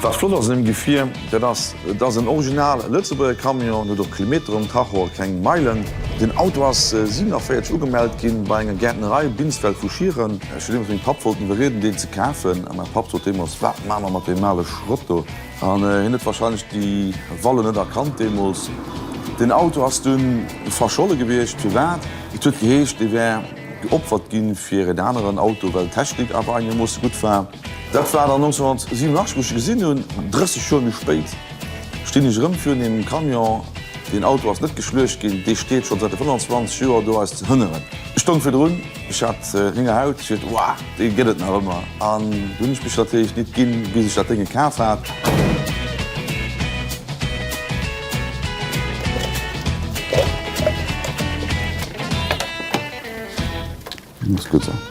Wat flott ass un dem Gefier, dat ass, et ass en original Lëtzebuerger Camion, en huet och Kilometer um Tacho a keng Meilen. Den Auto ass 47 ugemellt ginn bei enger Gäertnerei, Binsfeld vu Schieren. Ech hu deemools mengem Papp wollten iwwerrieden, deen ze kafen. A mäi Papp sot deemools, Wat maache mer mat deem ale Schrott do? An hien huet warscheinlech déi Vallen net erkannt deemools. Deen Auto ass dunn verscholle gewiescht. Firwat? Et huet geheescht, dee wär geopfert gi fir en aneren Auto, well d'Technik awer eengermoosse gutt war. Dat war dann 1987, wou ech e gesinn hunn. 30 Joer méi spéit stinn ech erëm virun deem Camion. Deen Auto ass net geschluecht ginn. Dee steet schonn säit 25 Joer do eis ze hënneren. Ech stoung virdrun. Ech hat Lénger Haut fir d'Waa, déi gëtt et nach ëmmer. An dunn hunn ech mech natierlech nit ginn, bis ech dat Dénge kaf hat. Muss gutt sinn.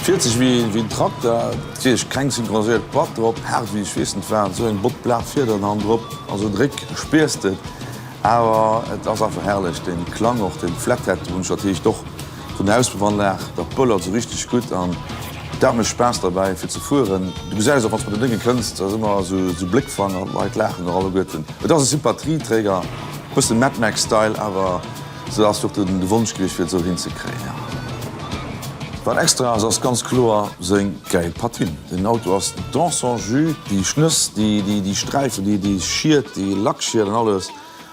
Fiert sech wéi en Trakter. Natierlech keng synchroniséiert Plack drop. Haart wéi e Schweessenfaden. Esou eng bott Plack Fiederen han drop. Ass e Dréck, spiers d'et. Awer et ass einfach herrlech. Den Klang och, den Flathead wunsch natierlech och. Vun der Auspuffannlag, dat bëllert sou richteg gutt an dat mécht Spaass derbäi fir ze fueren. Du gesäis och, wann s mat den Dënge kënns, dass ëmmer esou Bléckfanger, d'Leit laachen och alleguerten. Et ass e Sympathieträger, e bësse Mad Max Style, awer sou ass och de Wonsch gewiescht fir et esou hinzekréien. Wat extra ass, ass ganz kloer seng gäil Patine. Den Auto ass dans son jus, déi Schnëss, déi Sträifen, déi Schied, déi Lackschied an alles.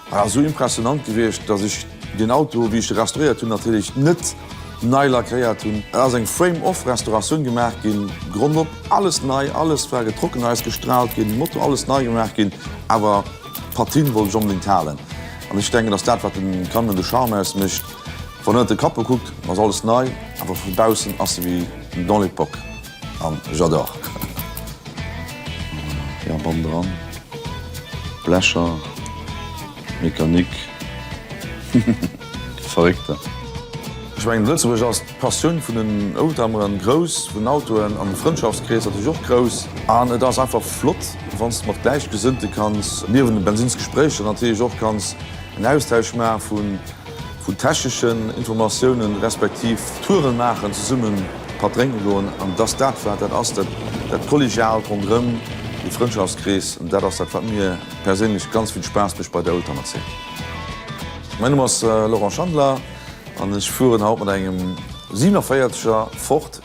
War esou impressionant gewiescht, dass ech den Auto, wéi ech de restauréiert hunn, natierlech net nei lackéiert hunn. Et ass eng Frame-Off-Restauratioun gemaach ginn, Grond op, alles nei, alles war getrockent, eis gestraalt ginn, Motor, alles nei gemaach ginn, awer d'Patine wollt ech onbedéngt halen. An ech denken, dass dat wat dem Camion de Charme ausmécht, wann en ënnert de Capot kuckt, ass alles nei, awer vu baussen ass e wéi dans l'époque. An j'adore. Ja bam dran. Blecher. Mekanick. Verréckter. Ech mengen Lëtzebuerg ass d'Passioun vun den Oldtimeren grouss, vun Autoen an de Frëndschaftskrees natierlech och grouss. An et ass einfach flott wann s de mat Gläichgesënnte kanns niewent de Bensinnsgespréicher natierlech och kanns en Austausch maache vun. vun techneschen Informatiounen, respektiv Touren maachen, zesumme Patt drénke goen an dass dat wat dat ass, dat dat Kollegiaalt ronderëm, de Frëndschaftskrees, dat ass dat wat mir perséinlech ganz vill Spaass mécht bei der Oldtimer Zeen. Mäin Numm ass Laurent Schandler an ech fueren haut mat engem 47er Ford.